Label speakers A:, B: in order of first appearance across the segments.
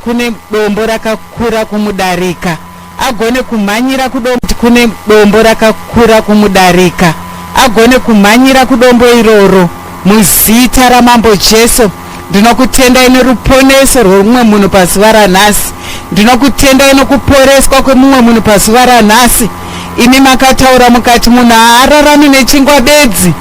A: kune dombo rakakura kumudarika agone kumhanyira kudombo kune dombo rakakura kumudarika agone kumhanyira kudombo iroro muzita ramambo jesu ndinokutendai neruponeso rwemumwe munhu pazuva ranhasi ndinokutendai nokuporeswa kwemumwe munhu pazuva ranhasi imi makataura mukati munhu haararami nechingwa bedzi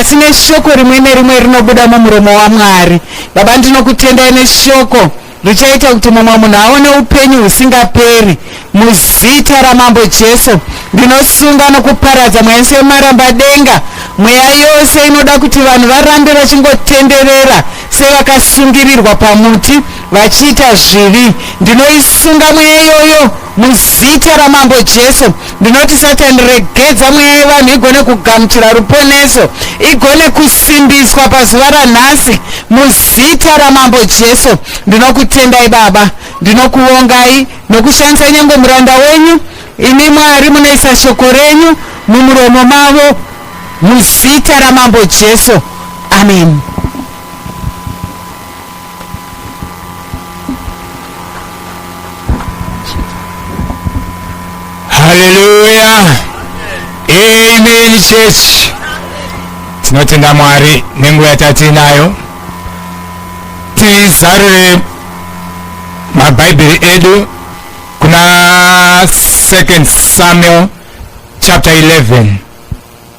A: asi neshoko rimwe nerimwe rinobuda mumuromo wamwari Baba ndinokutendai neshoko richaita kuti mumwe munhu aone upenyu husingaperi muzita ramambo jesu ndinosunga nokuparadza mweya yese yemaramba denga mweya yose inoda kuti vanhu varambe vachingotenderera sevakasungirirwa pamuti vachiita zvivi ndinoisunga mweya iyoyo Muzita raMambo Jesu ndinoti Satani regedza mweya yevanhu igone kugamuchira ruponeso, igone kusimbiswa pazuva ranhasi. Muzita raMambo Jesu ndinokutendai Baba, ndinokuvongai nokushandisa nyange muranda wenyu. Imi Mwari munoisa shoko renyu mumuromo mavo, muzita raMambo Jesu, amen.
B: haleluya amen church tinotenda mwari nenguva yatatiinayo tizarure mabhaibheri edu kuna second samuel chapter 11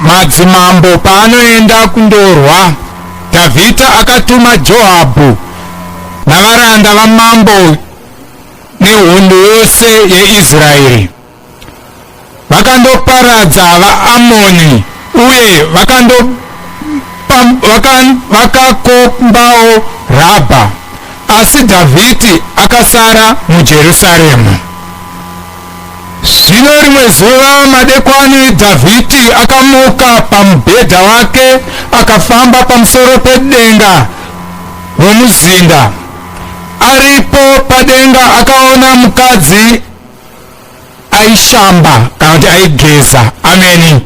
B: Madzimambo paanoenda kundorwa, Dhavhidha akatuma Joabhu navaranda vamambo nehondo yose yeIsraeri. Vakandoparadza vaAmoni uye vakakombawo Rabha, asi Dhavhidhi akasara muJerusarema. Zvino rimwe zuva madekwani Dhavhidhi akamuka pamubhedha wake akafamba pamusoro pedenga romuzinda. Aripo padenga akaona mukadzi aishamba kana kuti aigeza. Ameni.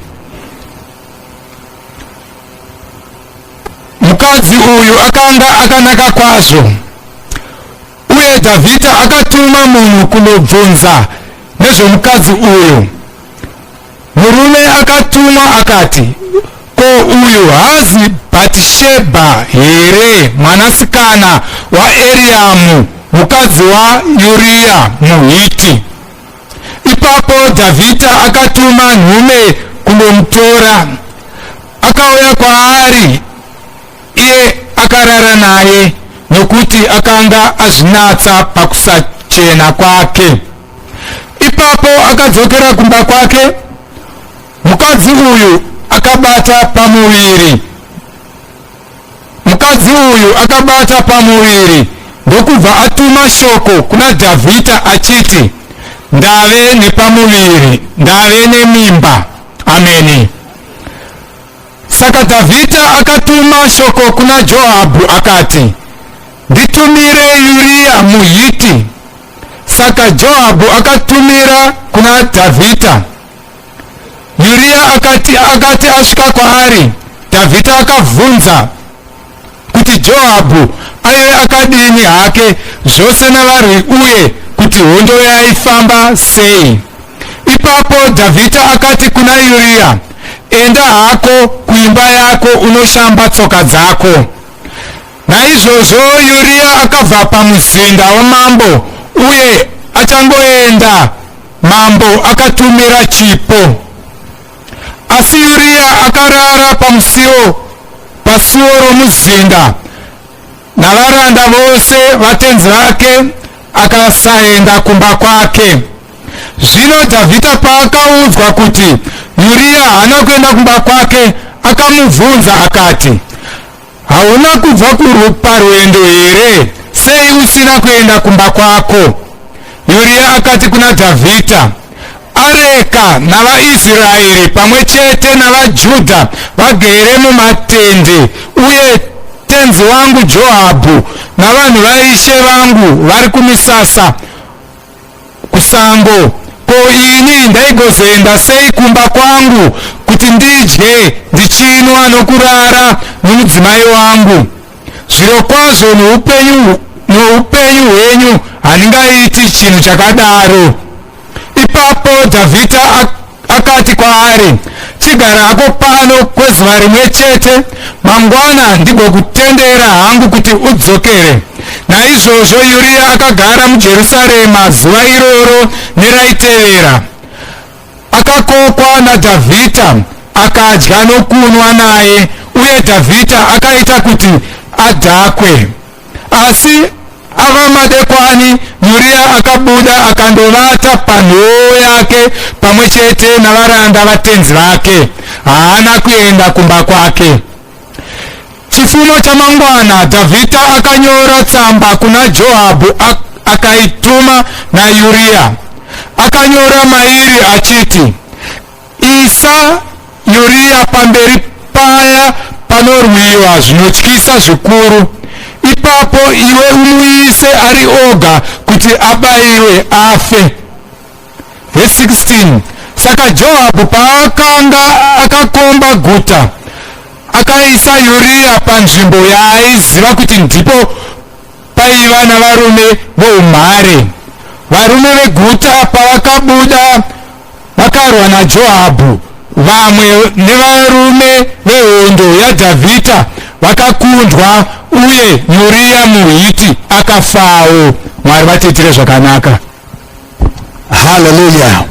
B: Mukadzi uyu akanga akanaka kwazvo. Uye Dhavhidha akatuma munhu kunobvunza nezvomukadzi uyu. Murume akatumwa akati, Ko uyu haazi Bhatishebha here, mwanasikana waEriamu, mukadzi waUria muHiti? Ipapo Dhavhidha akatuma nhume kunomutora. Akauya kwaari Iye akarara naye nokuti akanga azvinatsa pakusachena kwake. Ipapo akadzokera kumba kwake, mukadzi uyu akabata pamuviri. Mukadzi uyu akabata pamuviri ndokubva atuma shoko kuna Dhavhidha achiti, ndave nepamuviri, ndave nemimba. Ameni. Saka Dhavhidha akatuma shoko kuna Joabhu akati, Nditumire Uriya muHiti. Saka Joabhu akatumira kuna Dhavhidha. Uriya akati, akati asvika kwaari, Dhavhidha akabvunza, kuti Joabhu aive akadini hake zvose navarwi uye kuti hondo yaifamba sei. Ipapo Dhavhidha akati kuna Uriya, Enda hako kuimba yako unoshamba tsoka dzako. Naizvozvo Uriya akabva pamuzinda wamambo uye achangoenda mambo akatumira chipo. Asi Uriya akarara pamusiwo pasuwo romuzinda navaranda vose vatenzi vake, akasaenda kumba kwake. Zvino Dhavhidha paakaudzwa kuti Uriya haana kuenda kumba kwake, akamubvunza akati, Hauna kubva parwendo here? Sei usina kuenda kumba kwako? Yuria akati kuna Dhavhidha, Areka navaIsraeri pamwe chete navaJudha vagere mumatende, uye tenzi wangu Joabhu navanhu vaishe vangu vari kumisasa kusango ko ini ndaigozoenda sei kumba kwangu kuti ndidye ndichinwa nokurara nomudzimai wangu zvirokwazvo noupenyu noupenyu hwenyu handingaiti chinhu chakadaro ipapo dhavhidha Akati kwaari, Chigara hako pano kwezuva rimwe chete, mangwana ndigokutendera hangu kuti udzokere. Naizvozvo Uriya akagara muJerusarema zuva iroro neraitevera. Akakokwa naDhavhidha, akadya nokunwa naye, uye Dhavhidha akaita kuti adhakwe. asi ava madekwani Yuria akabuda akandovata panhoo yake pamwe chete navaranda vatenzi vake haana kuenda kumba kwake chifumo chamangwana dhavhidha akanyora tsamba kuna joabhu akaituma nayuriya akanyora mairi achiti Isa Uriya pamberi paya panorwiwa zvinotyisa zvikuru, ipapo iwe umuise ari oga kuti abaiwe afe. Verse 16 Saka Joabhu paakanga akakomba guta, akaisa Uriya panzvimbo yaaiziva kuti ndipo paiva navarume voumhare. Varume veguta pavakabuda Vakarwa naJoabhu, vamwe nevarume vehondo yaDhavhidha vakakundwa, uye Uriya muHiti akafawo. Mwari vatiitire zvakanaka. Hallelujah.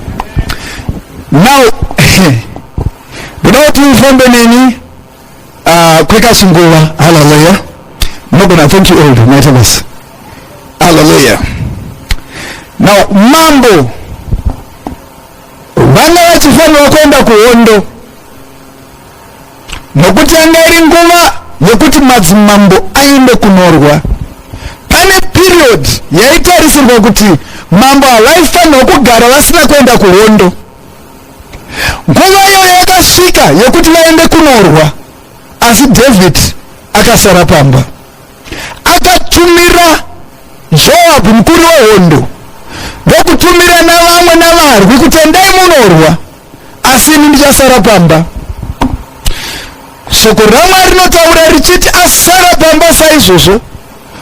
C: Now, ndoda kuti ufambe neni Ah, kwekasunguva haleluya mogona thank you old maita basa haleluya now mambo vanga vachifanira kuenda kuhondo nokuti yanga iri nguva yekuti madzimambo aende kunorwa pane period yaitarisirwa kuti mambo havaifanirwa kugara vasina kuenda kuhondo nguva iyoyo yakasvika yekuti vaende kunorwa asi david akasara pamba akatumira joabhu mukuru wehondo ndokutumira navamwe navarwi kuti endai munorwa asi ini ndichasara pamba shoko ramwari rinotaura richiti asara pamba saizvozvo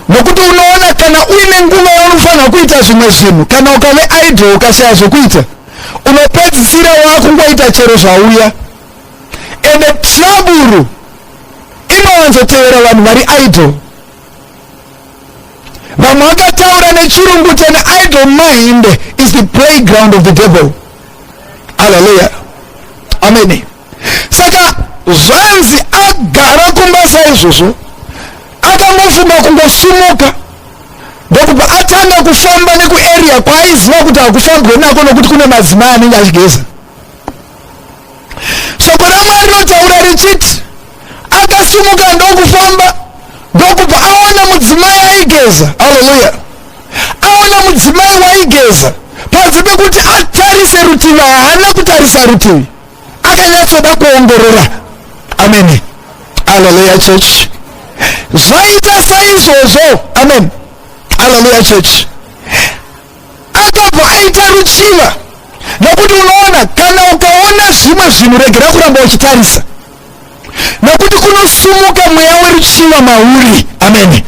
C: nokuti unoona kana uine nguva yaunofanira kuita zvimwe zvinhu kana ukave idle ukashaya zvekuita unopedzisira wakungoita chero zvauya ende traburu inowanzotevera vanhu vari idol vamwe vakataura nechirungu tene idol mind is the playground of the devil aleluya amene saka zvanzi agara kumba saizvozvo akangofunga kungosimuka ndokubva atanga kufamba nekuarea kwaaiziva kuti hakufambwe nako nokuti kune madzimai anenge achigeza shoko ramwari rinotaura richiti akasimuka ndokufamba ndokubva aona mudzimai aigeza aleluya aona mudzimai waigeza panze pekuti atarise rutivi haana kutarisa rutivi akanyatsoda kuongorora amene aleluya church zvaita saizvozvo amen aleluya church akabva aita ruchiva nokuti unoona kana ukaona zvimwe zvinhu regera kuramba uchitarisa nokuti kunosumuka mweya weruchiva mauri amene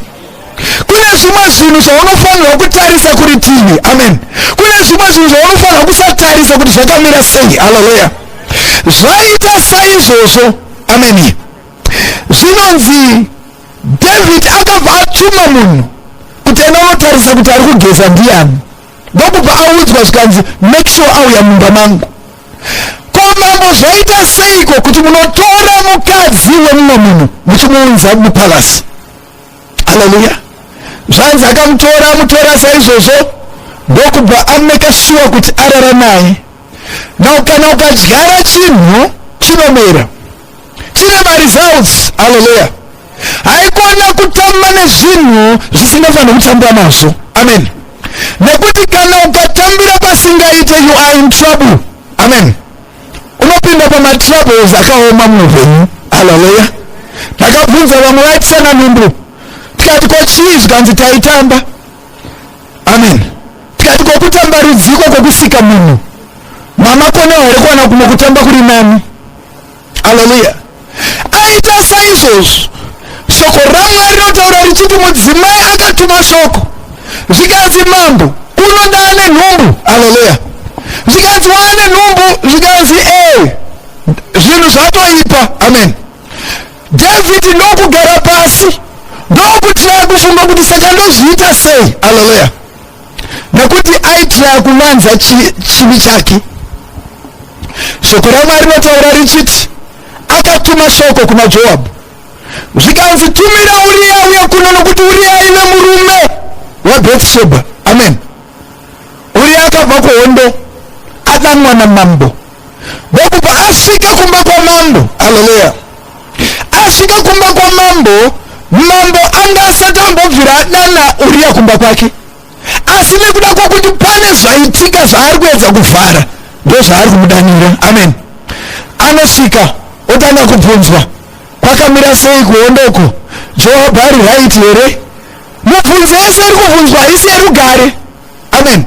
C: kune zvimwe zvinhu zvaunofanirwa kutarisa kuri tivi amen kune zvimwe zvinhu zvaunofanirwa kusatarisa kuti zvakamira sei haleluya zvaita saizvozvo ameni zvinonzi david akabva atuma munhu kuti enda unotarisa kuti ari kugeza ndiyani ndokubva audzwa zvikanzi make sure auya mumba mangu ko mambo zvoita seiko kuti munotora mukadzi wemumwe munhu muchimuunza mupalasi aleluya zvanzi akamutora amutora saizvozvo ndokubva ameka shuwa kuti arara naye now kana ukadyara chinhu chinomera chine maresults haleluya haikona kutamba nezvinhu zvisingafanira kutambwa nazvo amen nekuti kana ukatambira pasingaite you are in trouble amen unopinda pamatroubles akaoma muupenyu haleluya ndakabvunza vamwe vaitisana nhumbu tikati ko chii zvikanzi taitamba amen tikati kokutamba rudziko kwekusika munhu mamakona here kuwana kumwe kutamba kuri nani haleluya aita saizvozvo shoko ramwari rinotaura richiti mudzimai akatuma shoko zvikanzi mambo unoda ane nhumbu haleluya zvikanzi waane nhumbu zvikanzi e zvinhu zvatoipa amen dhavhidi ndokugara pasi ndokutya kufunga kuti saka ndozviita sei haleluya nekuti aitya kuvanza chivi chake Shoko raMwari rinotaura richiti akatuma shoko kuna Joabhu zvikanzi, tumira Uriya uye kuno, nokuti Uriya aive murume weBhetsheba. Amen. Uriya akabva kuhondo, adanwa namambo ndokubva asvika kumba kwamambo. Haleluya! Asvika kumba kwamambo, mambo anga asati ambobvira adana Uriya kumba kwake. asi nekuda kwokuti pane zvaitika zvaari kuedza kuvhara ndozvaari kumudanira amen anosvika otanga kubvunzwa kwakamira sei kuhondoko joabhu ari raiti here mubvunzo yese iri kubvunzwa haisi yerugare amen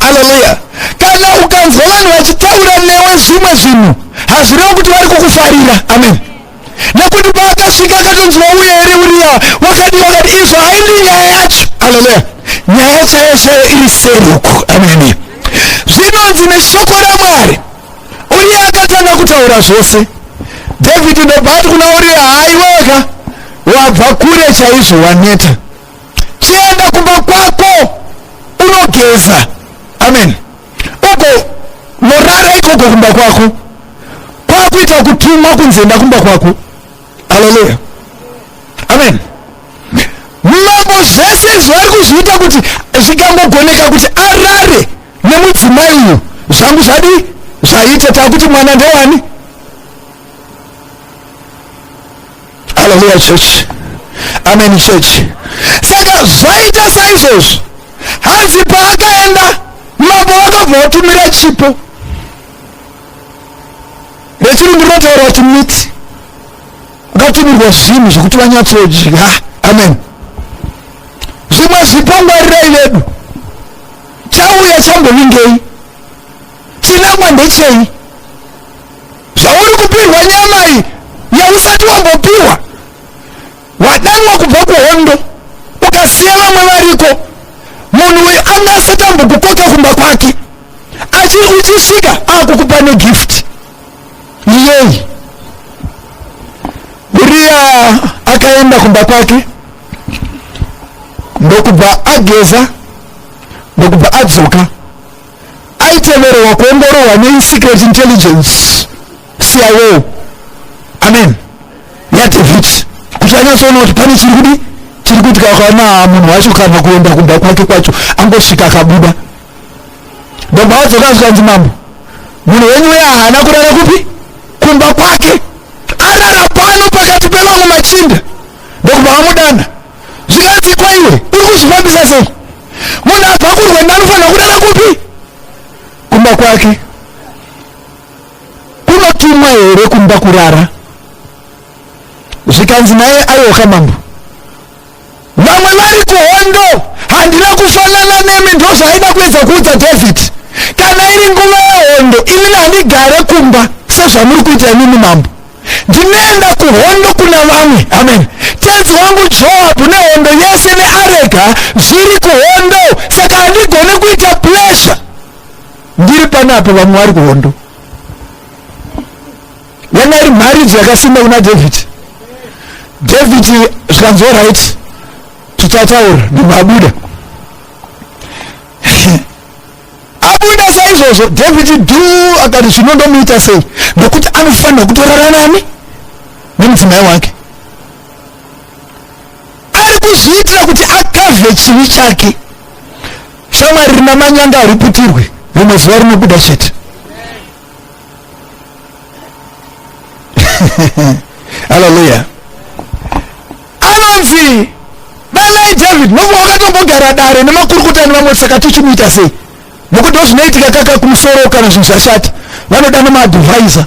C: aleluya kana ukanzwa vanhu vachitaura newe zvimwe zvinhu hazvirevi kuti vari kukufarira amen nekuti paakasvika akatonzi wauya here uriya wakadii wakati izvo haindi nyaya yacho aleluya nyaya chaiyo chaiyo iri seruku ameni zvinonzi neshoko ramwari uriya akatanga kutaura zvose dhavhidhi ndobva ati kuna uriya haiweka wabva kure chaizvo waneta chienda kumba kwako unogeza amen uko morara ikoko kumba kwako kwakuita kutumwa kunzi enda kumba kwako aleluya amen mambo zvese izvi vari kuzviita kuti zvikangogoneka kuti arare nemudzimai uyu zvangu zvadii zvaita takuti mwana ndewani haleluya chechi ameni chechi saka zvaita saizvozvo hanzi paakaenda mambo vakabva vatumira chipo rechirungu rinotaura kuti miti ukatumirwa zvinhu zvekuti vanyatsodya amen zvimwe zvipo ngwarirai vedu chauya chambovingei Chinangwa ndechei? Zvauri kupihwa nyama iyi yausati wambopihwa. Wadanwa kubva kuhondo ukasiya vamwe variko. Munhu uyu anga asati ambokukoka kumba kwake. Achi uchisvika akukupa negift. Yei. Uriya akaenda kumba kwake ndokubva ageza ndokubva adzoka aitemererwa kuongororwa nesecret intelligence cio amen yadeviti kuti anyatsoona kuti pane chiri kudi chiri kuitika kana munhu wacho kana kuenda kumba kwake kwacho angosvika akabuda baba wadzoka azvikanzi mambo munhu wenyu uye haana kurara kupi kumba kwake arara pano pakati pevamwe machinda ndokubva vamudana zvinganzi kwaiwe uri kuzvifambisa sei munhu abva kurwenda anofanira kurara kupi kumba kwake kunotumwa here kumba kurara zvikanzi naye ayoka mambo vamwe vari kuhondo handina kufanana nemi ndozvaaida kuedza kuudza david kana iri nguva yehondo imini handigare kumba sezvamuri kuita imimi mambo ndinoenda kuhondo kuna vamwe amen tenzi wangu joabhu nehondo yese nearega zviri kuhondo saka handigone kuita plesha ndiri panapo vamwe vari kuhondo yanga iri mharidzo yakasimba kuna david david zvikanzwa right tichataura ndimwe abuda abuda saizvozvo dhavhidhi du akati zvino ndomuita sei nokuti anofanira kutorara nani nemudzimai wake ari kuzviitira kuti akavhe chivi chake shamwari rina manyanga hariputirwe rimwe zuva rinobuda chete haleluya anonzi danai david novo wakatombogara dare nemakurukota nevamwe saka tochimuita sei nokuti ndozvinoitika kaka kumusoro kana zvinhu zvashata vanodana maadvhaisa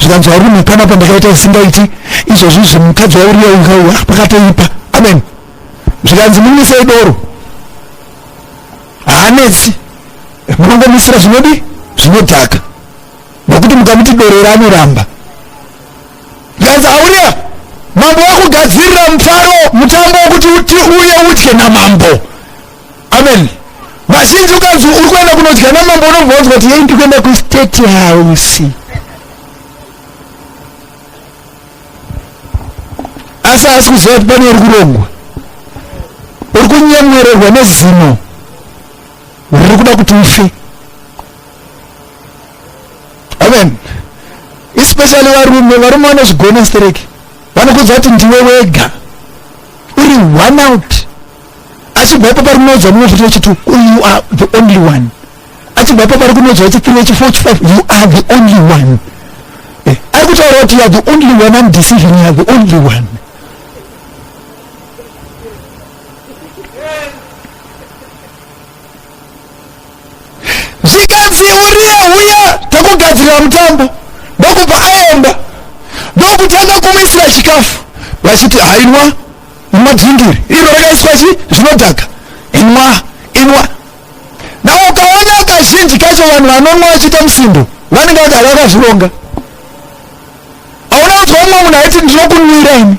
C: zvikanzi varume pana pandakaita isingaiti izvozvi zvi mukadzi wauriya ukauya pakatoipa amen zvikanzi mumisei doro haanetsi munongomisira zvinodi zvinodhaka nokuti mukamuti doro ranoramba Ganza auria mambo wakugadzirira mufaro mutambo wekuti uti uye udye namambo amen vazhinji ukanzi uri kuenda kunodya namambo unobva wanzwa kuti yei ndikuenda kustate house asi asi kuziva kuti pane uri kurongwa uri kunyemwererwa nezino riri kuda kuti ufe amen especially varume varume vanozvigona stereki vanokudza kuti ndiwe wega uri one out achibva ipo pari kunodzwa mumwe futi wechitu you are the only one achibva ipo pari kunodzwa wechithree wechifour wechifive you are the only one eh, ari kutaura kuti you are the only one am decision you are the only one zvikanzi uriya huya takugadzirira mutambo ndokubva aenda ndokutanga kumuisira chikafu vachiti hainwa madhingiri iro rakaiswa chi zvinodhaka inwa inwa na ukaona kazhinji kacho vanhu vanonwa vachiita musindo vanenge vagara vakazvironga aona kuti vamwe munhu aiti ndinokunwira ini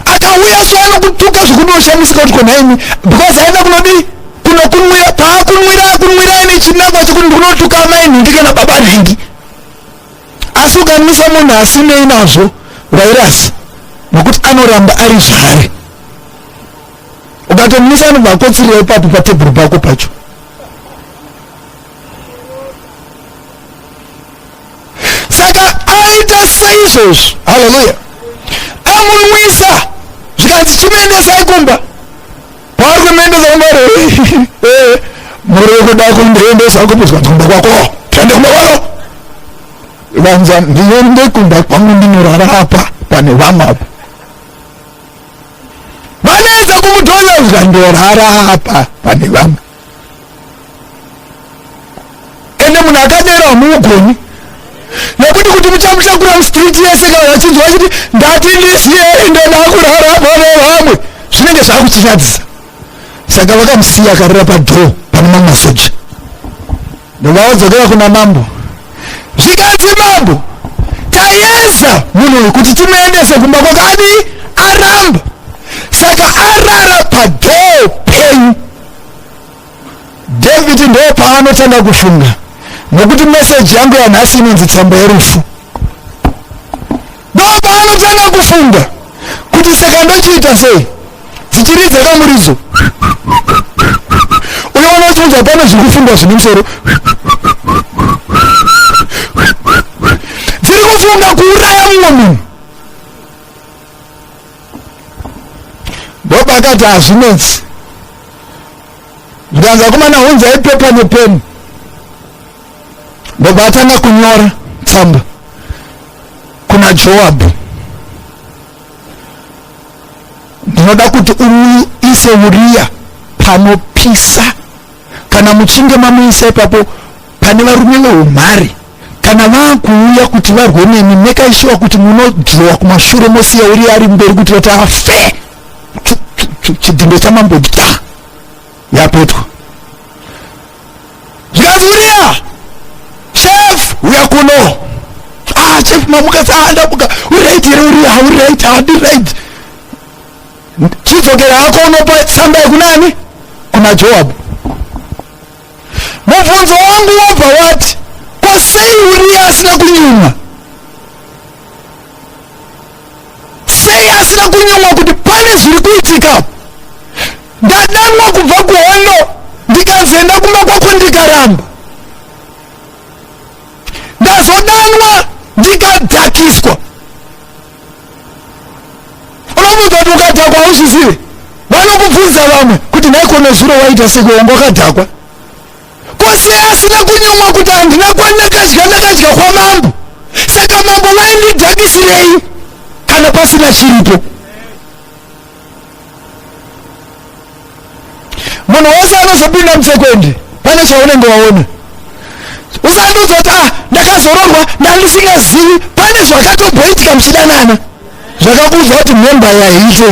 C: akauya so anokutuka zvekunoshamisika kuti konaimi because aenda kunodii kunokunwira paakunwira akunwira ane chinangwa chekuti ndikunotuka amai nhingi kana baba nhingi asi ukamisa munhu asinei nazvo vairasi nokuti anoramba ari zvare ukatomisa anobva akotsirira ipapo patebhuru pako pacho saka aita saizvozvo haleluya amunwisa zvikanzi chimuendesai kumba kwaari kumuendesa kumba eh, muri kuda kundiendesa kupi zvikanzi kumba kwako tiende kumba kwako vanza ndiende kumba kwangu ndinorara apa pane vamwe apa vanoedza kumudhoza zvikandiorara apa pane vamwe ende munhu akadero hamuugoni nekuti kuti muchamutakura mustreet yese kana vachinzwa vachiti ndati ndisiye ende ndakurara pane vamwe zvinenge zvakuchinyadzisa saka vakamusiya akarira padhoo pane mamwe masoja ndovavadzokera kuna mambo zvikanzi mambo tayeza munhu uyu kuti timuendese kumba kwakadii aramba saka arara padhoo penyu David ndoo paanotanga kufunga nokuti meseji yangu yanhasi inonzi tsamba yerufu ndoo paanotanga kufunga kuti saka ndochiita sei dzichiridza kamuridzo uyo unochonja pane zviri kufungwa zvine musoro dziri kufunga kuuraya mumwe munhu bob akati hazvinetsi zvikanzi akomana hunzai pepa nepeni ndobva atanga kunyora tsamba kuna joabhu ndinoda kuti uise uriya panopisa kana muchinge mamuisa ipapo pane varume veumhari kana vakuuya kuti varwe nemi mekaishuwa kuti munodhirowa kumashure mosiya uri ari mberi kuti vati afe chidhindo chamambo bta yapetwa zvikanzi uriya chef uya kuno ah chef mamuka saandamuka uri right here uriya uri right hadi right chidzokera hako unopa tsamba yekunani kuna joabhu mubvunzo wangu wobva wati ko sei uriya asina kunyumwa sei asina kunyumwa kuti pane zviri kuitika ndadanwa kubva kuhondo ndikazoenda kumba kwako ndikaramba ndazodanwa ndikadhakiswa unomuudza kuti ukadhakwa hauzvizive vanokubvunza vamwe kuti nhaikona zuro waita sekuonga wakadhakwa kose asina kunyumwa kuti handina kwandakadya ndakadya kwamambo saka mambo vaindidhakisirei kana pasina chiripo munhu wose anozopinda mutsekwende pane zvaunenge waona usandiudza kuti ah ndakazoroorwa ndandisingazivi pane zvakatomboitika muchidanana zvakakuudzwa kuti memba yaite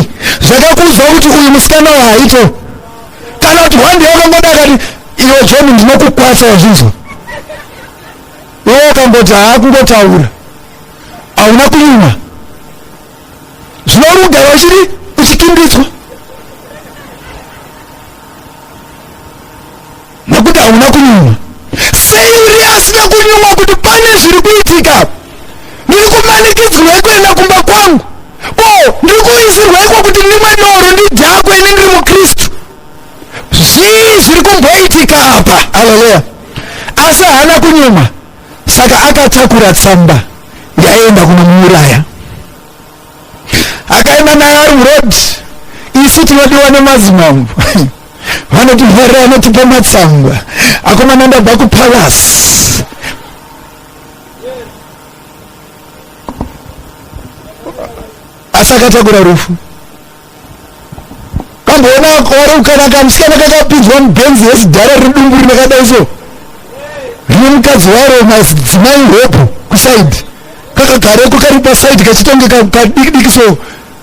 C: zvakakuudzwa kuti uyu musikana waite kana kuti hwandi yakangoda akati iwe john ndinokukwatsa wazvinzwa iwe wakamboti haakungotaura hauna kunyuma zvinouri kugara uchiri uchikimbidzwa nekuti hauna kunyumwa sei uri asina kunyumwa kuti pane zviri kuitika ndiri kumanikidzirwa kuenda kumba kwangu ko ndiri kuisirwa iko kuti ndimwe doro ndidhakwe ini ndiri mukristu zvii zviri kumboitika apa aleluya asi haana kunyumwa Saka akatakura tsamba yaienda kunomuuraya akaenda nayo ari muroad. Isu tinodiwa nemadzimambo vanoti mhere anotipa matsamba akomana ndabva kupalasi asi akatakura rufu kamboona wari kukana kamusikana kakapinzwa mubenzi yezidhara riri dumbu rine kadai so rine mukadzi waro madzimai hope kusaidi kakagareko kari pasaidi kachitonge kadikidiki so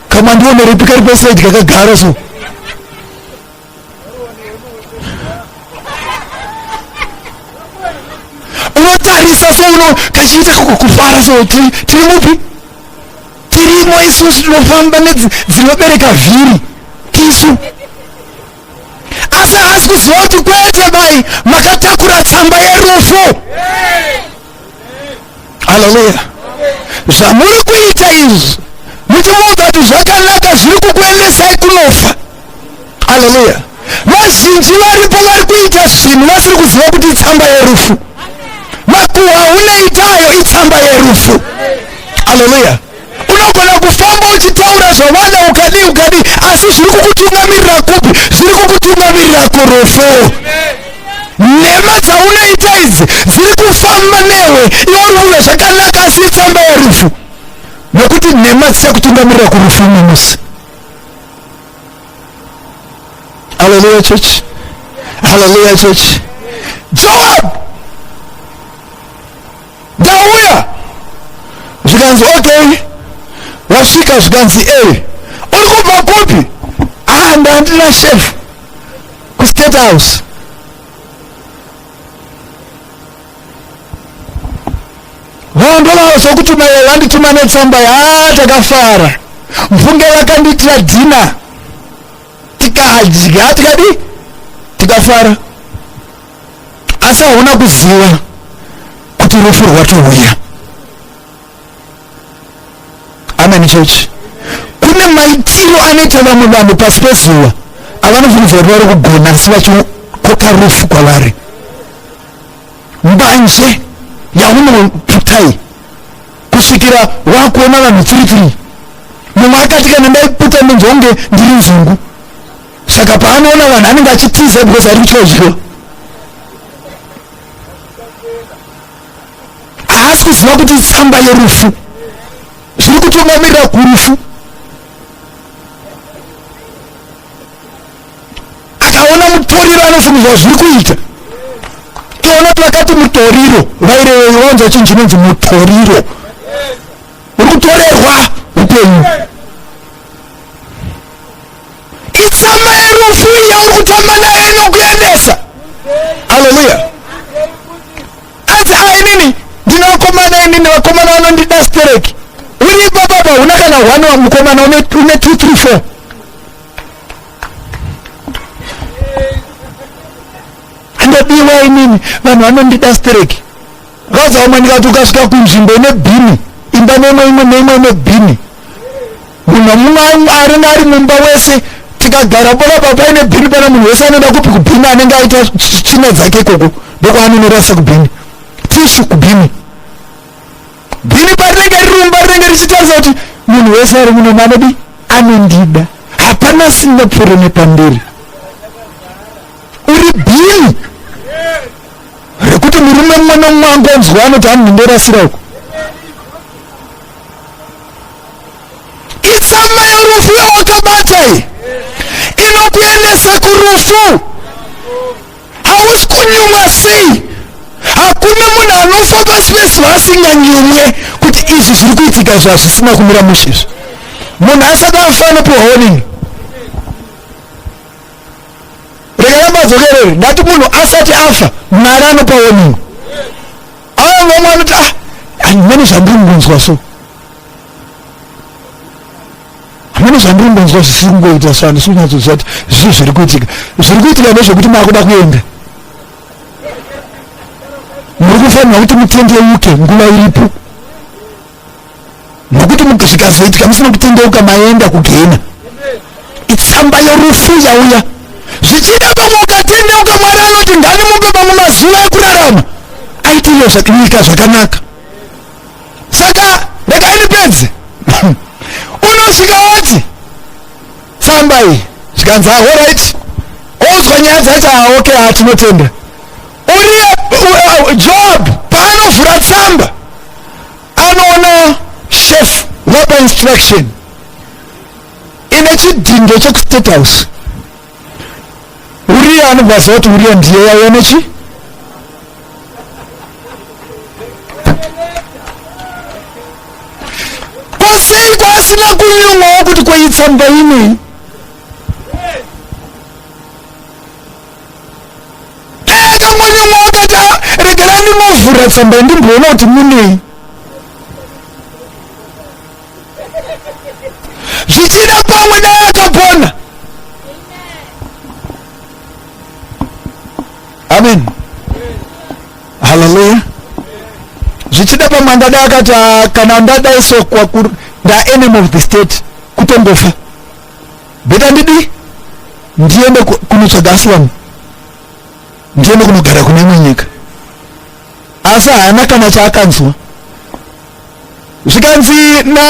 C: kamandionerepi kari pasaidi kakagara so unotarisa souno kachiita kufara so tiri mupi tirimo isusu tinofamba nedzinobereka vhiri tisu asi haasi kuziva kuti kwete mai makatakura tsamba yerufu yeah. haleluya zvamuri kuita izvi muchimuudza kuti zvakanaka zviri kukuendesai kunofa haleluya vazhinji varipo vari kuita zvinhu vasiri kuziva kuti itsamba yerufu makuhwa uneitayo itsamba yerufu haleluya unogona kufamba uchitaura zvavana ukadii ukadii asi zviri kukutungamirira kupi zviri kukutungamirira kurufu nhema dzaunoita idzi dziri kufamba newe iwe uri kuve zvakanaka asi itsamba yerufu nokuti nhema dzichakutungamirira kurufu umwe musi haleluya church haleluya church joab ndauya zvikanzi okay wasvika zvikanzi e uri kubva kupi ah ndandina shefu kustate house vaondolava zvokutuma iye vandituma netsamba yaa takafara mfunge vakandiitira dhina tikadya tikadi tikafara asi hauna kuziva kuti rufu rwatouya amen church kune maitiro anoita vamwe vanhu pasi pezuva avanofungidzira kuti vari kugona asi vachikoka rufu kwavari mbanje yaunoputai kusvikira wakuona vanhu tiri tiri mumwe akati kana ndaiputa ndinzonge ndiri nzungu saka paanoona vanhu anenge achitiza because ari kutya kudyiwa haasi kuziva kuti tsamba yerufu zviri kutungamirira kurufu akaona mutoriro anofungidzwa zviri kuita toona kuti vakati mutoriro vaireveyo vanzwa chinhu chinonzi mutoriro uri kutorerwa upenyu itsama yerufu yauri kutamba nayo inokuendesa haleluya anzi a ah, inini ndine vakomana inini vakomana vanondida stereki uri ipapapa huna kana hwani wamukomana une 234 andobiwa inini vanhu vanondida stereki vazaumanika kuti ukasvika kunzvimbo ine bhini imba nemwe imwe neimwe ine bhini munhu amumwe aringa ari mumba wese tikagara bona papa ine bhini pana munhu wese anoenda kupi kubhini anenge aita china dzake ikoko ndokwanonorasa kubhini tishu kubhini bhini parinenge rirumba rinenge richitarisa kuti munhu wese ari muno manodi anondida hapana sina pfuro nepamberi uri bhini rekuti murume mumwe nomumwe angonzwa anoti anondorasira uko itsamba yorufu yawakabata iyi inokuendesa kurufu hausi kunyumwa sei hakuna munhu anofa pasi pezuva asinganyumwe kuti izvi zviri kuitika izvi hazvisina kumira mushe izvi munhu asati afa anopiwa honini rekarambadzokerere ndati munhu asati afa mwari anopa honini aa vamwe anoti ah handimene zvandiri kunzwa so hamuna zvandiri kungonzwa zvisiri kungoita so handisi kunyatsoziva kuti zvii zviri kuitika zviri kuitika nezvekuti maakuda kuenda muri kufanira kuti mutendeuke nguva iripo nokuti zvikazoitika musina kutendeuka maenda kugena itsamba yorufu yauya zvichida pamwe ukatendeuka mwari anoti ngani mupe pamwe mazuva ekurarama aitiyo nyika zvakanaka saka regai ndipedze unosvika wati tsamba iyi zvikanzi ahorit onzwa nyaya dzacho aoke ah, atinotenda uriye uh, job paanovhura tsamba anoona chef wapa instruction ine chidhindo chekustate house uriya anobva aziva kuti uriya ndiye yaiya nechi kwasei kwaasina kunyumwawo kuti kweitsamba inei regerai ndinovhura tsamba ndimboona kuti munei zvichida pamwe naye akapona amen haleluya zvichida pamwe andadai akati ah, kana andadai so kwakur ndaenemy of the state kutongofa beta ndidi ndiende kunotsvaga asiwani ndiende kunogara kune imwe nyika asi haana kana chaakanzwa zvikanzi na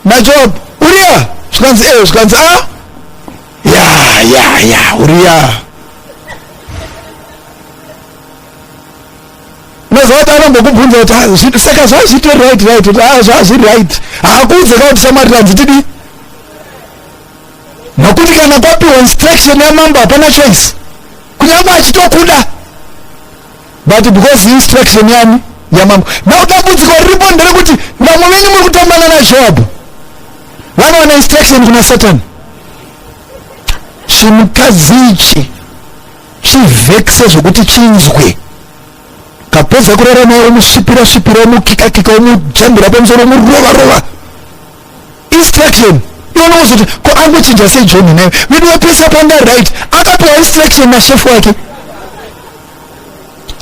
C: najob uriya zvikanzi e eh, zvikanzi a ah, ya ya ya uriya mazoti anongokubvunza kuti ah, saka zvazviti right right kuti a ah, zvazvi right haakuudze ka kuti shamwari tanzitidi nokuti kana kwapiwa instruction yamambo hapana choice kunyange achitokuda but because instruction yani yamambo now dambudziko riripo nderekuti vamwe venyu muri kutambana najoabhu vanowana instruction kuna satani chimukadzi ichi chivhekise zvekuti chinzwe kapedza kurara naye omusvipira svipira omukikakika omujambira pamusoro omurova rova, rova. instruction iwe unozoti ko angochinja sei john naye vedu wapesa panga right akapiwa instruction nashefu wake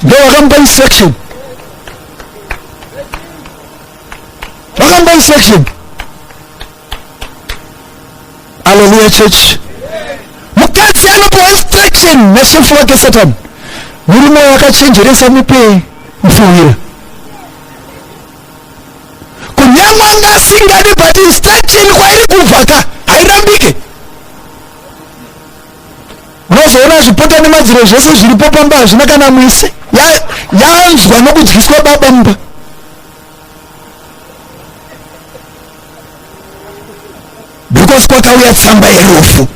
C: ndo vakamupa instruction vakamupa instruction aleluya church mukadzi anopiwa instruction nashefu wake satani murume wakachenjeresa mupei mfuwira kunyangwe anga asingadi but instruction kwairi kubva ka hairambike unozoona zvipota nemadziro zvese zviripo pamba hazvina kana mwise yanzwa ya nokudyiswa baba mumba because kwakauya tsamba yerufu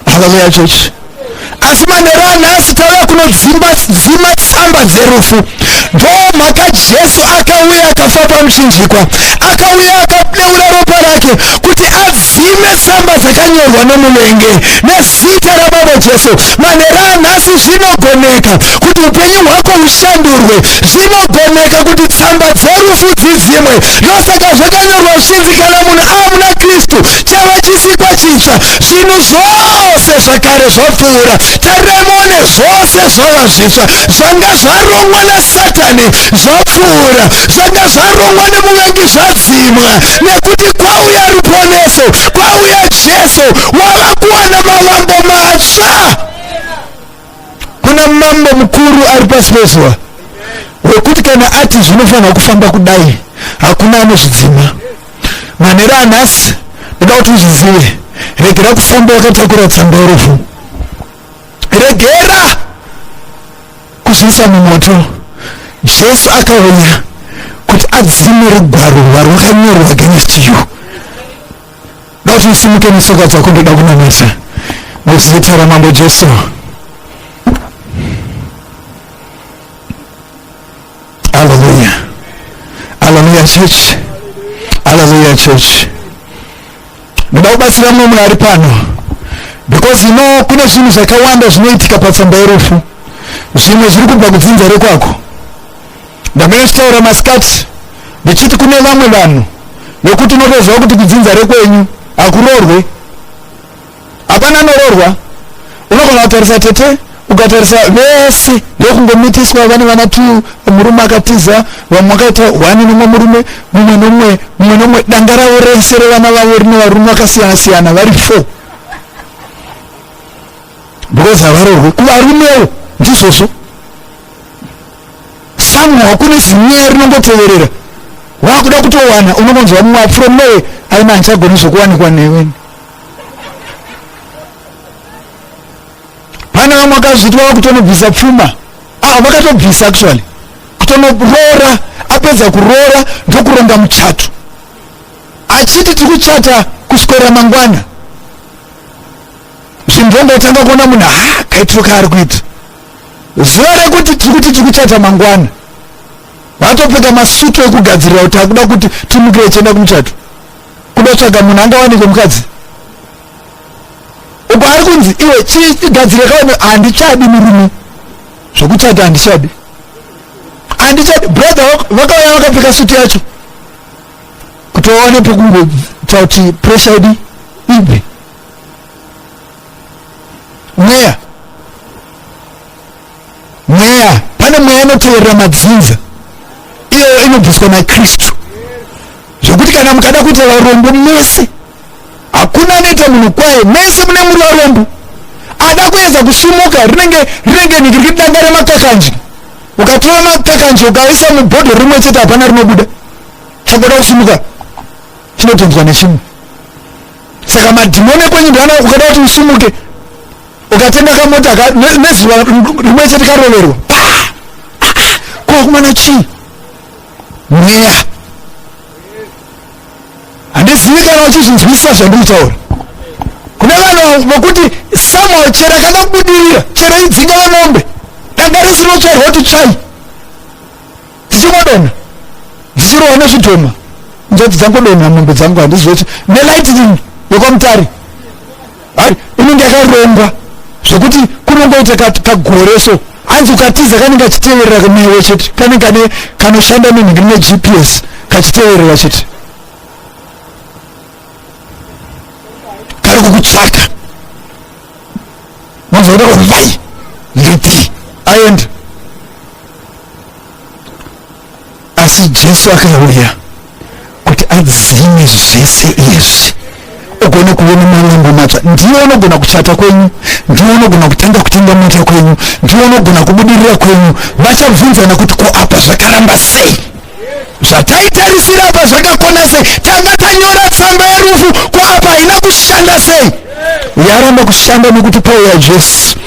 C: haleluya chechi asi manheru anhasi tauya kunodzimba dzima tsamba dzerufu ndo mhaka jesu akauya akafa pamuchinjikwa akauya akadeura ropa rake kuti adzime tsamba dzakanyorwa nomuvenge nezita rababa jesu manheru anhasi zvinogoneka kuti upenyu hwako hushandurwe zvinogoneka kuti tsamba dzerufu dzidzimwe ndosaka zvakanyorwa zvichinzi kana munhu amuna kristu chava chisikwa chitsva zvinhu zvose zvakare zvapfuura tarirai muone zvose zvava zvitsva zvanga zvarongwa nasatani zvapfuura zvanga zvarongwa nemuvengi zvadzimwa nekuti kwauya ruponeso kwauya jesu wava kuwana mavambo matsva kuna mambo mukuru ari pasi pezuva wekuti kana ati zvinofanira kufamba kudai hakuna anozvidzima manhero anhasi ndoda kuti uzvizive regera kufamba wakatakura tsamba yerufu regera kuzviisa mumoto jesu akauya kuti adzime rugwaro rwarwakanyorwa against you Dati usimuke netsoka dzako ndoda kunamata nezita ramambo Jesu. Hallelujah. Hallelujah church. Hallelujah church. Ndoda kubatsira mumwe munhu ari pano because you know kune zvinhu zvakawanda zvinoitika patsamba yerufu zvimwe zviri kubva kudzinza rekwako Ndamene chitaura masikati ndichiti kune vamwe vanhu nokuti unotoziva kuti kudzinza rekwenyu hakuroorwe hapana anororwa unogona kutarisa tete ukatarisa vese ndokungomitiswa vane vana t murume akatiza vamwe akaita one nomwe murume mumwe nomwe mumwe nomwe danga ravo rese revana vavo rine varume vakasiyana siyana vari four because havarorwe kuvarumewo ndizvozvo somehow kune zinyaya rinongoteverera wakuda kutowana unongonzwa mumwe from nowhere aina handichagoni zvokuwanikwa neweni pane vamwe akazviti vava kutonobvisa pfuma ah vakatobvisa actually kutonoroora apedza kuroora ndokuronga muchato achiti tiri kuchata kuswera mangwana zvinhu zvongotanga kuona munhu ha kaitiro kaari kuita zuva rekuti tiri kuti tiri kuchata mangwana vatopfeka masutu ekugadzirira kuti akuda kuti timukire tienda kumuchato kuda tsvaga munhu angawanike mukadzi uko ari kunzi iwe chigadzire kaone handichadi murume zvekuchata handichadi handichadi brother vakauya vakapfeka sutu yacho kuti vaone pekungotsa kuti pressure idi ibve mweya mweya pane mweya inoteverera madzinza iyoyo inobviswa nakristu zvekuti kana mukada kuita varombo mese hakuna anoita munhu kwaye mese mune muri varombo ada kuedza kusumuka rinenge rinenge niki rikiti danga remakakanji ukatora makakanji ukaisa mubhodho rimwe chete hapana rinobuda chakoda kusumuka chinotonzwa nechimwe saka madhimoni ekwenyu ndiana ukada kuti usumuke ukatenga kamota ka nezuva rimwe chete karoverwa kwakumana chii mweya handizivi kana uchizvinzwisisa zvandikutaura kune vanhu vokuti somehow chero akada kubudirira chero idzinga vemombe danga risinotsvairwa kuti tsvai dzichingodonha dzichirohwa nezvidhoma njodzi dzangodonha mombe dzangu handizive kuti nelightning yekwamutare hai inenge yakarongwa zvekuti kunongoita kagore so hanzi ukatiza kanenge achiteverera newe chete kanenge kane kanoshanda nenhingi ne gps kachiteverera chete kari kukutsvaka mazoona kuti vai nditi aenda asi jesu akauya kuti adzime zvese izvi ugone kuona malambo matsva ndiwo unogona kuchata kwenyu ndiwo unogona kutanga kutenga mota kwenyu ndiwo unogona kubudirira kwenyu vachabvunzana kuti ko apa zvakaramba sei zvataitarisira apa zvakakona sei tanga tanyora tsamba yerufu ko apa haina kushanda sei yaramba kushanda nekuti pauya jesu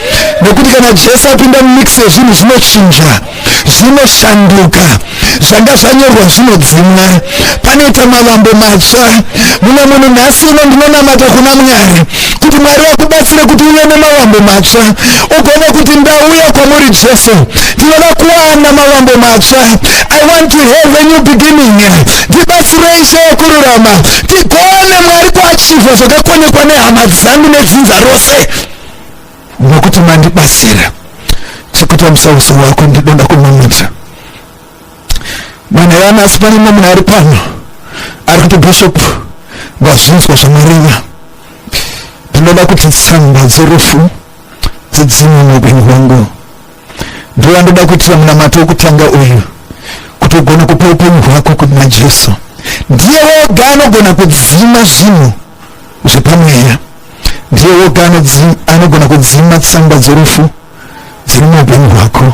C: nekuti kana jesu apinda mumix yezvinhu zvinochinja zvinoshanduka zvanga zvanyorwa zvinodzimwa panoita mavambo matsva mumwe munhu nhasi uno ndinonamata kuna mwari kuti mwari vakubatsire kuti uve nemavambo matsva ugone kuti ndauya kwamuri jesu ndinoda kuwana mavambo matsva i want to have a new beginning ndibatsirei cheyokururama tigone mwari kuachivha zvakakonekwa nehama dzangu nedzinza rose nokuti mandibatsira chekuti amusauso wako ndidoda kumamudza manherana asi pane mumwe munhu ari pano ari kuti bishop vazvinzwa zvamareva ndinoda kuti tsamba dzerufu dzidzimwe muupenyu hwangu ndivo vandoda kuitira munamato wokutanga uyu kuti ugone kupa upenyu hwako kuna jesu ndiye woga anogona kudzima zvinhu zvepamweya ndiye woga anogona kudzima tsamba dzerufu dziri muupenyu hwako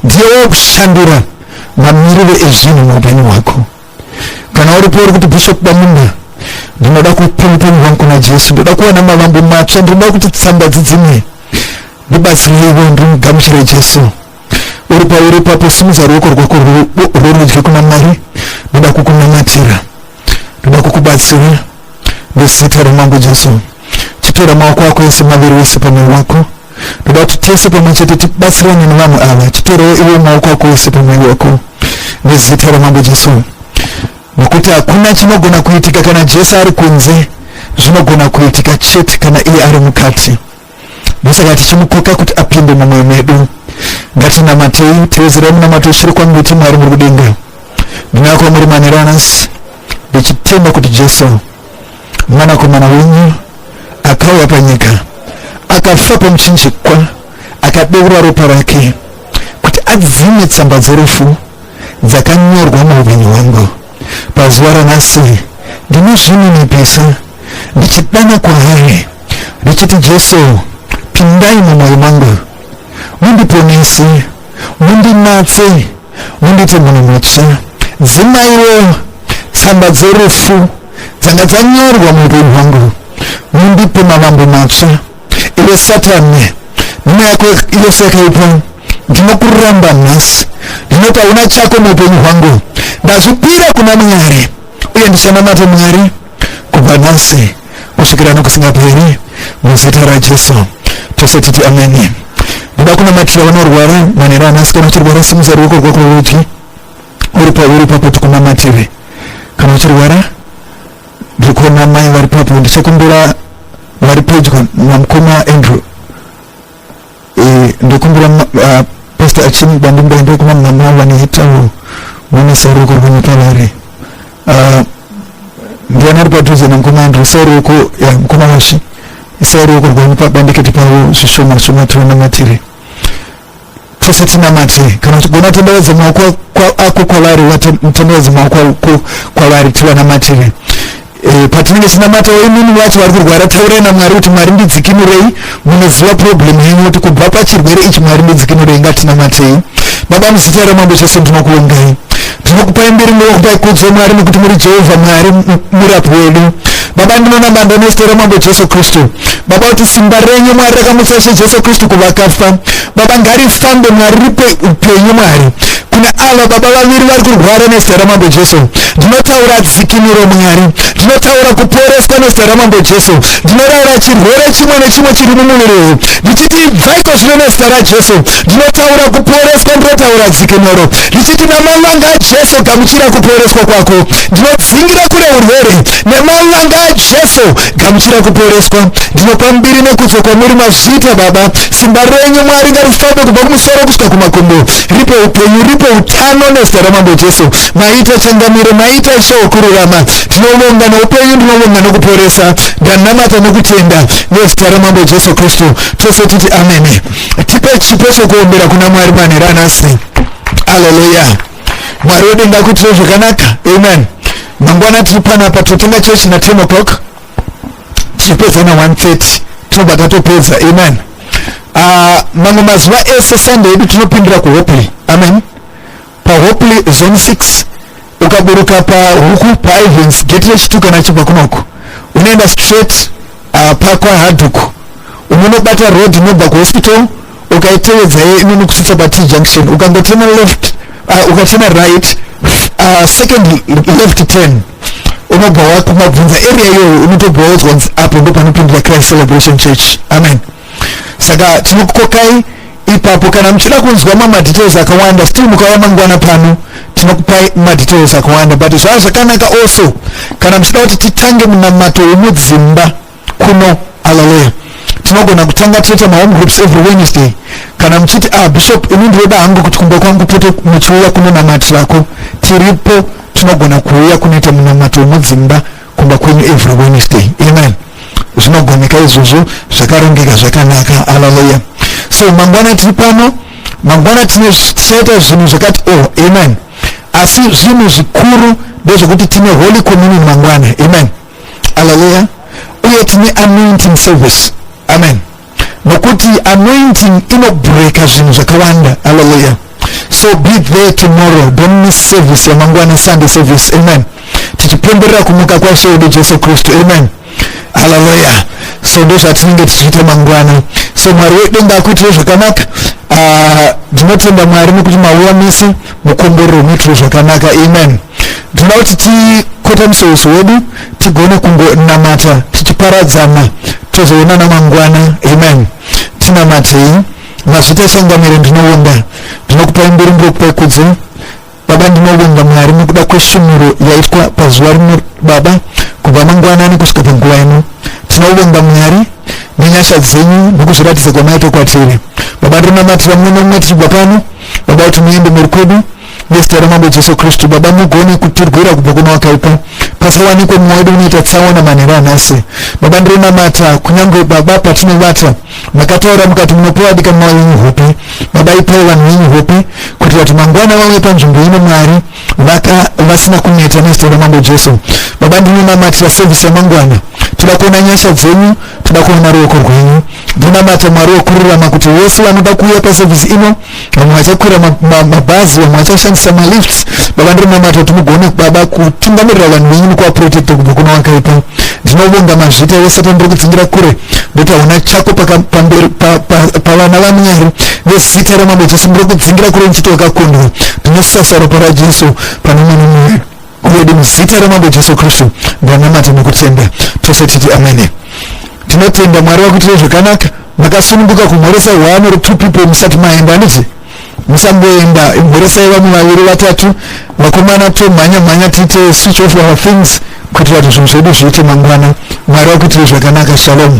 C: ndiye wokushandura mamiriro ezvinhu muupenyu hwako kana uripo uri kuti bishop bamunda ndinoda kupa upenyu hwangu kuna jesu ndoda kuwana mavambo matsva ndinoda kuti tsamba dzidzimwe ndibatsirireiwo ndimugamuchire jesu uri pauri ipapo simudza ruoko rwako rworudyi kuna mwari ndoda kukunamatira ndoda kukubatsira nezita remambo jesu chitora maoko ako ese maviri wese pamwoyo wako ndoda kuti tese pamwe chete tibatsirane nevanhu ava titorewo iwe maoko ako ese pamwiri wako nezita ramambo jesu nokuti hakuna chinogona kuitika kana jesu ari kunze zvinogona kuitika chete kana iye ari mukati ndosaka tichimukoka kuti apinde mumwe medu ngatinamatei tevezerai munamato chiri kwangu iti mwari muri kudenga ndinako muri maneranasi ndichitenda kuti jesu mwanakomana wenyu akauya panyika akafa pamuchinjikwa akadeura ropa rake kuti adzime tsamba dzerufu dzakanyorwa muupenyu hwangu pazuva ranhasi ndinozvininipisa ndichidana kwaari ndichiti jesu pindai mumwoyo mangu mundiponese mundinatse Munditi munhu mutsva. Dzimaiwo tsamba dzerufu dzanga dzanyorwa muupenyu hwangu. Mundipe mavambo matsva. Iwe Satani, nhuma yako yose yakaipa ndinokuramba nhasi. Ndinoti hauna chako muupenyu hwangu. Ndazvipira kuna Mwari uye ndichanamata Mwari. kubva nhasi kusvikira nokusingaperi muzita rajesu tose titi ameni ndoda kunamatira vanorwara manhero anhasi kana uchirwara simusa ruoko rwako rwerudyi uri pauri ipapo tikunamatire kana uchirwara ndiri kuona mai vari papo ndichakumbira vari pedyo namukoma andrew ndokumbira uh, pastor achini bandimbai ndokuma mama vanoitawo mune saruko rwemutavari uh, ndiani ari padhuze nemukoma andrew saruko ya mukoma washi isaruko rwemubandikiti pavo zvishoma shoma tiona matiri tose tinamate kana uchigona tenderedza maoko ako kwavari tenderedza maoko ako kwavari tivanamatire eh, patinenge tinamata imini vacho vari kurwara taurai namwari kuti mwari ndidzikinurei munoziva problem yenyu kuti kubva pachirwere ichi mwari ndidzikinurei ngatinamatei baba muzita ramambo chose ndinokuongai tinokupai mbiri munokupai kudzo mwari nokuti muri jehovha mwari murapi wedu baba ndinoona manda nezita ramambo jesu kristu baba kuti simba renyu mwari rakamutsa ishe jesu kristu kuvakafa baba ngarifambe mwari ripe upenyu mwari kuna ava baba vaviri vari kurwara nezita ramambo jesu ndinotaura dzikiniro mwari ndinotaura kuporeswa nezita ramambo jesu ndinoraura chirwere chimwe nechimwe chiri mumuviri uyu ndichiti ibvaiko zvino nezita rajesu ndinotaura kuporeswa ndinotaura dzikinuro ndichiti naman'anga ajesu gamuchira kuporeswa kwako ndinodzingira kure urwere neman'anga ajesu gamuchira kuporeswa ndinopa mbiri nekudzo kwamuri mazviita baba simba renyu mwari ngarifambe kubva kumusoro kusvika kumakumbo ripe upenyu ripe utano nezita ramambo jesu maita changamire maita ishe wokururama ndinovonga noupenyu ndinovonga nokuporesa ndanamata nokutenda nezita ramambo jesu kristu tose titi amene tipe chipo chokuombera kuna mwari manhero anasi aleluya mwari wedu ngakuitire zvakanaka amen mangwana tiri panapa totanga chechi na 10 o'clock tichipedza na 130 tinobva tatopedza amen ah, mamwe mazuva ese sunday yedu tinopindira kuhopley amen pahopley zone 6 ukaburuka pahuku paivens geti rechituka nachibva kunoko unoenda straight uh, pakwa hadhuku unonobata road inobva kuhospital ukaitevedza ye inono kusvitsa pat junction ukangotema left uh, ukatema right uh, second left ten unobva wakumabvunza area iyoyo unotobva waudzwanzi apo ndopanopindira christ celebration church amen saka tinokukokai ipapo kana muchida kunzwa mamwe madetails akawanda still mukauya mangwana pano tinokupai madetails akawanda but zvava zvakanaka also kana muchida kuti titange munamato wemudzimba kuno alaleya tinogona kutanga toita mahome groups every wednesday kana muchiti ah bishop ini ndinoda hangu kuti kumba kwangu pote muchiuya kunonamatira ko tiripo tinogona kuuya kunoita munamato wemudzimba kumba kwenyu every wednesday amen zvinogoneka izvozvo zvakarongeka zvakanaka haleluya so mangwana tiri pano mangwana tichaita zvinhu zvakati o oh, amen asi zvinhu zvikuru ndezvekuti tine holy communion mangwana amen haleluya uye tine anointing service amen nokuti anointing inobreaka zvinhu zvakawanda haleluya so be there tomorrow don't miss service yamangwana sunday service amen tichipemberera kumuka kwaishe wedu jesu kristu amen haleluya so ndozvatinenge tichiita mangwana so mwari wedenga akuitire zvakanaka ah, ndinotenda uh, mwari nekuti mauya mese mukomborero muitire zvakanaka amen ndinoda kuti tikotamise uso wedu tigone kungonamata tichiparadzana tozoonana mangwana amen tinamatei mazvita changamire ndinowonda ndinokupai mbiri ndinokupai kudzo baba ndinowonda mwari nokuda kwesvinuro yaitwa pazuva rino baba kubva mangwanani kusvika panguva ino tinowonda mwari nenyasha dzenyu nokuzviratidza kwamaita kwatiri baba ndinonamatira mumwe nomumwe tichibva pano baba kuti muende mhuri kwedu nezita ramambo jesu kristu baba mugone kutirwira kubva kuna wakaipa pasawanikwe mumwe wedu unoita tsaona manheru anhasi baba ndirinamata kunyange baba patinovata makataura mukati munopiwa dikanwa yenyu hope baba ipai vanhu venyu hope kuitira kuti mangwana vauye panzvimbo ino mwari vaka vasina kuneta nezita ramambo jesu baba ndinonamatira sevhisi yamangwana toda kuona nyasha dzenyu toda kuona ruoko rwenyu ndinamata mwari wokururama kuti vese vanoda kuuya pasevhisi ino vamwe vachakwira mabhazi vamwe vachashandisa malifts baba ndiri namata kuti mugone baba kutungamirira vanhu venyu nekuvaprotecta kubva kuna wakaipa ndinobonga mazvita wesatan ndiri kudzingira kure ndotaona chako pavana vamwari vezita ramambo jesu ndiri kudzingira kure ndichiti wakakundwa ndinosasa ropa rajesu pane mwana mwedu Uyede muzita ramambo Jesu Kristu ndanamata nekutenda tose titi amene. Tinotenda Mwari wakuitira zvakanaka makasununguka kumhoresa one or two people musati maenda handiti musamboenda mhoresai vamwe vaviri vatatu vakomana tomhanya mhanya tiite switch off our things kuitira kuti zvinhu zvedu zviite mangwana mwari wakuitire zvakanaka shalomu